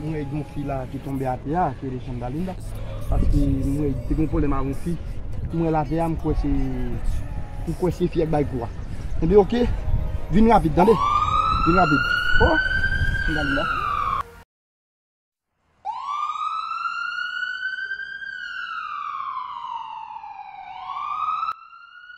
Mwen wè yon fi la ki tonbe atè a ki rele Chandalinda paske mwen wè li te gen pwoblèm ak yon fi mwen wè l atè a m kwè se m kwè se fi a ki bay kou a Ebyen ok vin rapid tande vin rapid Oh Chandalinda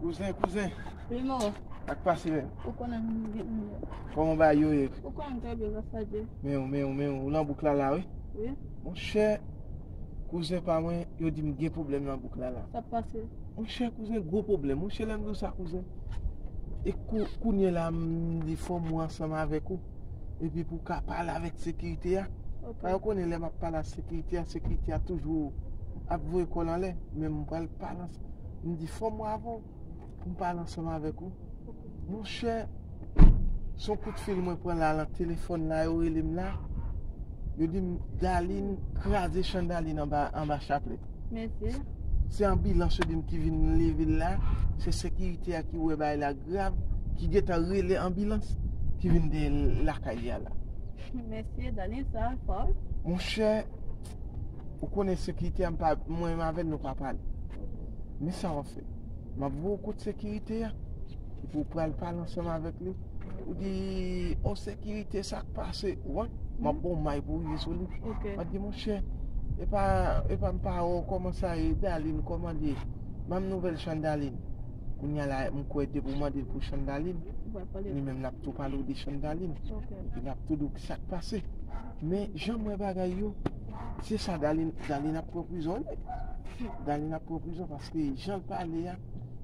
Kouzen, kouzen. Wi, mo. Sa k pase menm? Ou konnen m gen yon mouda. Kòman bagay yo ye? Ou konnen m trè byen, gras a Dye. Men w, men w, men w. Ou nan bouk la la, wi? Wi. Monchè, kouzen pa mwen, yo di m gen pwoblèm nan bouk la la. Sa k pase? Monchè, kouzen, gwo pwoblèm. Monchè, lè m di w sa, kouzen. E kou, kounye la, m di fò m wè ansanm avèk ou. Epi pou w ka pale avèk sekirite a. Paske yo konnen lè m ap pale ak sekirite a, sekirite a toujou ap voye kò l anlè. Men m pral pale ansanm. M di fò m wè avè w pou m pale ansanm avèk ou. Monchè, se yon kout fil mwen pran la nan telefòn la, yo rele m la. Yo di m Daliin kraze chandalye anba chaplèt. Mesi. Se anbilans yo dim ki vin levil la, se sekirite a ki wè bagay la grav, ki gentan rele anbilans, ki vin dèyè lakay li a la. Mesi Dani sa fort. Monchè, ou konnen sekirite a mpa, mwen menm avèl nou pa pale. Men sa wap fè, map voye w kot sekirite a, epi ou pral pale ansanm avèk li. Ou di on sekirite sak pase ou an, map bon may pou li sou li. Mwen di mwen chè, e pa e pa mpa ou koman sa e dalin koman li. Banm nouvel chan dalin. Kounye a la mwen kwe depi ou mande pou chan dalin, li menm lap tou pale ou de chan dalin. Epi lap tou di ou kisak pase. Men jan mwen bagay yo, se sa dalin, dalin ap pran prizon li. Dalin ap pran prizon paske jan pale a,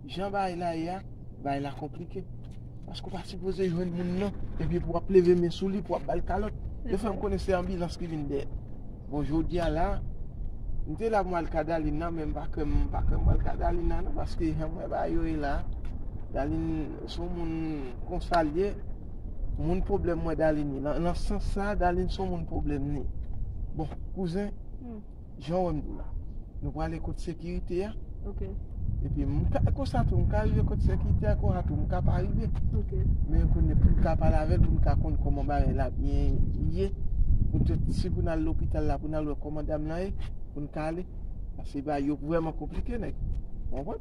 jan bay la ye a, bay la konplike. Paske ou pa sipoze jwenn moun nan, epi pou wap leve men sou li, pou wap bal kalòt. Yo fèm konnen se anbilans ki vin dèyè. Bon jodi a la, m te la pou mal ka Dalin nan, men m pa kwè m pa kwè m pral ka Dalin nan non, paske jan m wè bagay yo ye la, Dalin se yon moun konsa l ye, moun pwoblèm mwen Dalin ye. Nan sans sa, Dalin se yon moun pwoblèm li ye. Bon, kouzen. Jan w wè m di w la. Nou prale kot sekirite a. Ok. Epi m ka konsa tou, m ka rive kot sekirite a konsa tou, m ka pa rive. Ok. Men kounye pou m ka pale avè l, pou m ka konn kòman bagay la byen ye. Poutèt si pou n al lopital la, pou n al wè kòman dam lan ye, pou n ka ale. Paske bagay yo vrèman konplike nèg. Ou konprann?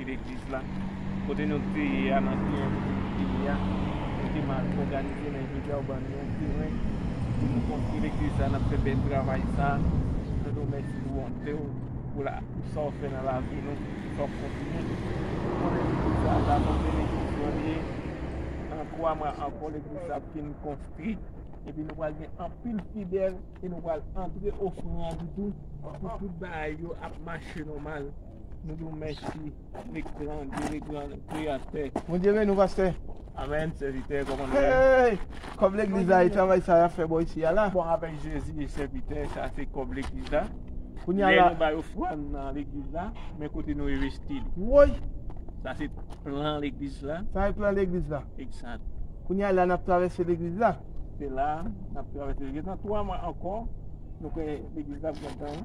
Ki legliz la? Kote nou t ye ya nan ki envite nou te ye ya? Nou te mal òganize men jodi a ou ban nou yon teren pou nou konstwi legliz la nap fè bèl travay sa nou di w mèsi pou bonte w pou la pou sa w fè nan lavi nou pou sa w kontinye nou konnen legliz sa sa son benediksyon li ye nan 3 mwa ankò legliz sa ap fin konstwi epi nou pral gen anpil fidèl e nou pral antre ofran an di tou pou tout bagay yo ap mache nòmal. Nou di w mèsi, nik gran Dye le gran kreyatè. Bondye beni w pastè. Amen sèvitè koman nou ye? Kòb legliz la e travay sa yap fè bò isi a la. Bon avèk Jezi sèvitè sa se kòb legliz la. Kounye a la. Lè nou bay ofrann nan legliz la men kote nou envesti li. Woy! Sa se plan legliz la. Sa e plan legliz la. Egzat. Kounye a la nap travèse legliz la. Se la nap travèse legliz la. Nan 3 mwa ankò nou kwè legliz la ap gentan.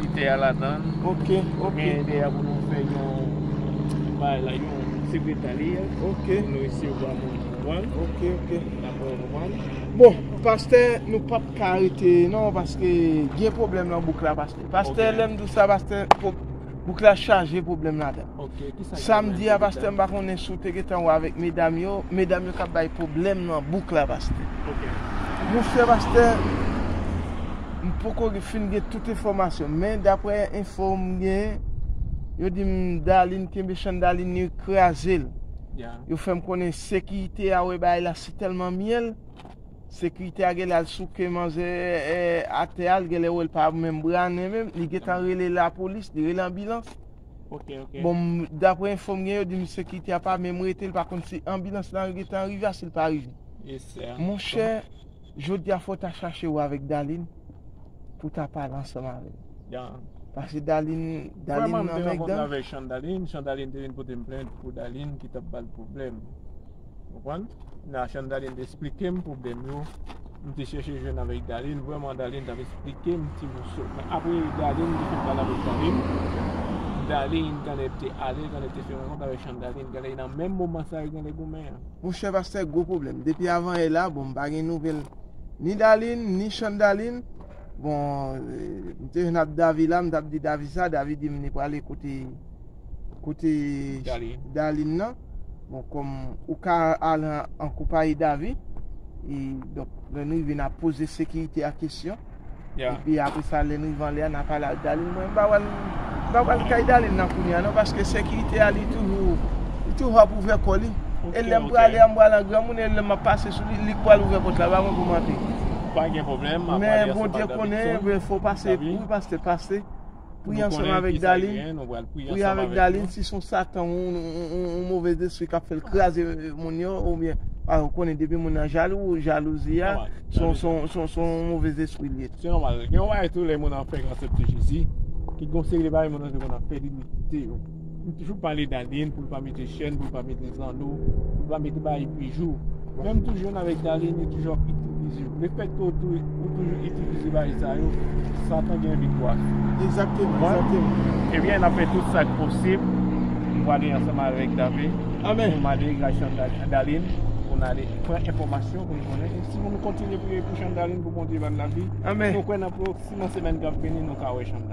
Koutè a ladan l. Ok, ok. Gen yè deyè pou nou fè yon bay la, yon sekretarye. Ok. Pou nou resevwa moun yo, konprann? Ok, ok. Dapre ou, konprann? Bon, pastè, nou p ap ka rete non paske gen pwoblèm nan bouk la, pastè. Pastè, lè m di w sa, pastè, bouk la chaje pwoblèm ladan l. Samedi a pastè m pa konnen si w te gentan wè avèk medam yo, medam yo kap bay pwoblèm nan bouk la pastè. Mon chè pastè m poko fin gen tout enfòmasyon men daprè enfo m gen yo di m Darline kenbe chan Darline yo kraze l yo fè m konnen sekirite a wè bagay la si tèlman myèl sekirite a genlè al souke manzè atè a l genlè wè l pa menm brannen menm li gentan rele lapolis li rele anbilans Bon daprè enfo m gen yo di misye kite a pa menm rete li pa konn si anbilans lan li gentan rive a si li pa rive. Monchè jodi a fò ta chache wè avèk Daline pou ta pale ansanm avèl. Pase Daline Daline nan menk dan. Vrèman m te rankontre avèk Chandaline, Chandaline te vin pote m plent pou Daline ki tap bal pwoblèm. Konprann? Nachan Darline te esplike m pwoblèm yo M te chèche jwenn avèk Darline Vrèman Darline t ap esplike m ti moso Men apre Darline te fin pale avèk zanmim Darline genlè te alèz Genlè te fè rankont avèk Chan Darline Genlè nan menm moman sa yo genlè goumen an. Monchè pastè gwo pwoblèm depi avan yè la bon m pa gen nouvèl ni Darline ni Chan Darline bon m te jwenn ap Davy la m t ap di Davy sa Davy di m li prale kote Kote Darline nan Bon kom ou ka al an kopayi Davi E donk lè nou rive na poze sekirite a kesyon E pi apre sa lè nou rive anlè a na pale ak Darline Mwen pa wè l Mwen pa pral kay Darline nan kounye a non Paske sekirite a li toujou Li toujou ap ouvè kò li E lè m prale a m pral an granmoun e lè m ap pase sou li Li k pral ouvè pòt la pa mwen pou m antre Men Bondye konnen Fò pase Wi pastè pase Priye ansanm avèk Darline, priye avèk Darline si son satan ou move despri kap fèl kraze moun yo ou byen ou konnen depi moun nan jalou jalouzi a son move despri liye. Se nòmal gen yon bagay tou lè moun an fè gran sèp te Jezi ki gon seri de bagay moun an te konn ap fè li li kite yo. M toujou pale Darline pou l pa mete chèn, pou l pa mete zanno, pou l pa mete bagay bijou. Men m toujou jwenn avèk Darline li toujou ap itilize yo. Le fèt ke ou toujou itilize bagay sa yo, satan gen viktwa sou ou. Egzakteman, egzakteman. Ebyen n ap fè tout sa k posib pou w ale ansanm avèk Dave. Amen. Pou mande gras Darline, pou n ale pran enfòmasyon pou n konnen. E si nou kontinye priye pou Chandarline pou Bondye ba l lavi, nou kwè nan pwoksiman semèn k ap vini nou ka wè Chandarline.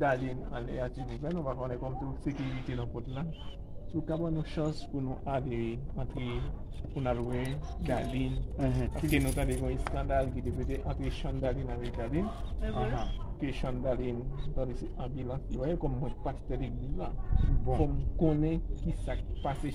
Dale anlè a ti bouzen nou pa konnen kòm tout sekirite nan pot la. Sou ka ban nou chans pou nou ale antre pou nan lwe Dalin. Paske nou tande kon eskandal ki te pete antre Shan Dalin avèk Dalin. Ke Shan Dalin tande se anbilans li voye kòm mwen pastè legliz la. Fòm konnen ki sak pase.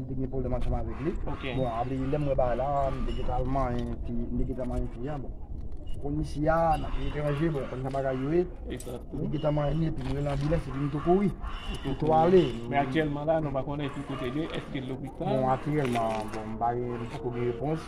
M te gen pwoblèm ansanm avèk li. Bon, apre lè m wè bagay la, m te gen ta al manyen fi, m te gen ta manyen fi an. Bon, m konn isi a, n ap etranje, bon, m konn jan bagay yo ye. M te gen ta manyen li epi m rele anbilans epi m tou kouri. M tou ale. Men aktyèlman la, nou pa konnen ki kote l ye, èske l lopital? Bon, aktyèlman, bon, m pa gen, m poko gen repons.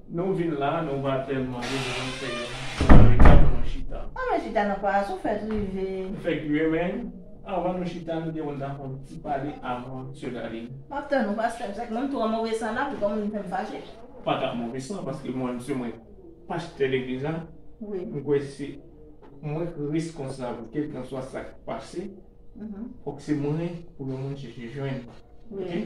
Nou vin la nou va telman ri nou menm se yon sware kap nou chita. Annou chita nan pwa a sou fèt rive. Nou fè kwi renmen avan nou chita nou te konn ta fon ti pale avan sè Darline. Map tann ou pastè se mwen m twò move san la pou koman nou fèm fache. M pa ka move san paske mwen se mwen pastè legliz la m kwè se mwen ki reskonsab kelkanswa sak pase fòk se mwen pou yon moun chèche jwenn ok.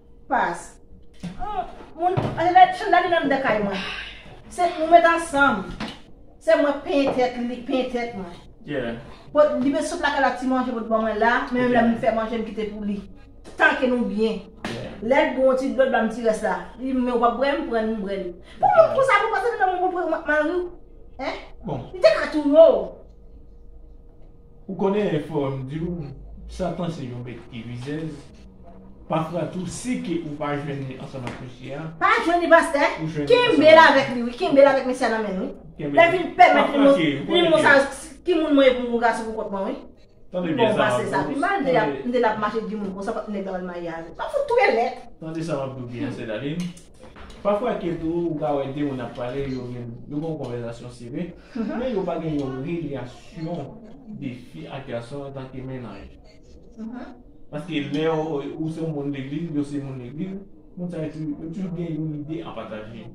Pas. Moun anlè chan dani nan de kay mwen se nou met ansanm se mwen penyen tèt li li penyen tèt mwen bon li met sou plaka lap ti manje pot ban mwen la men menm lèm fè manje m kite pou li tanke nou byen lèl bou yon ti dlo l banm ti rès la li men ou pap bwè m pran m bwè li pou moun konsa pou pase nan menm pou mariw hein li te ka touye w. Ou konnen fòm diw satan se yon bèt ki rizèz pafwa tou si ke ou pa jwenn li ansanm ak mesye a. Pa jwenn li pastè, kenbel avèk li wi, kenbel avèk mesye a nan menn wi. Lè vin pèmèt li montre li moun sa ki moun mwen ye pou m voka sou pou kont mwen wi. Li bon pase sa pi mal, m te lap mache di moun konsa pat nèg la wèl mayi avèl. Sa fout trè lèd. Tande sa map diw byen sè Daline. Pafwa ke tou ou ka wè 2 moun ap pale yo gen yon konvèzasyon sere, men yo pa gen yon relasyon de fi ak gason antanke mennaj. Paske lè ou se yon moun legliz, yo se yon moun legliz, moun sa yo toujou gen yon ide a pataje.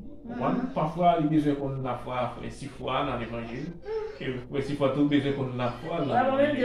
Pafwa li bezwen konn lafwa frè Sifwa nan levanjil, e frè Sifwa tou bezwen konn lafwa l nan levanjil.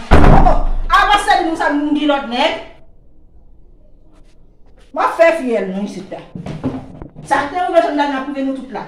Oh oh avan sel nou sa nou gen lot neg. Wap fè fiyèl non isit la. Sa te rive Jeanne d'Arc la prive nou tout la.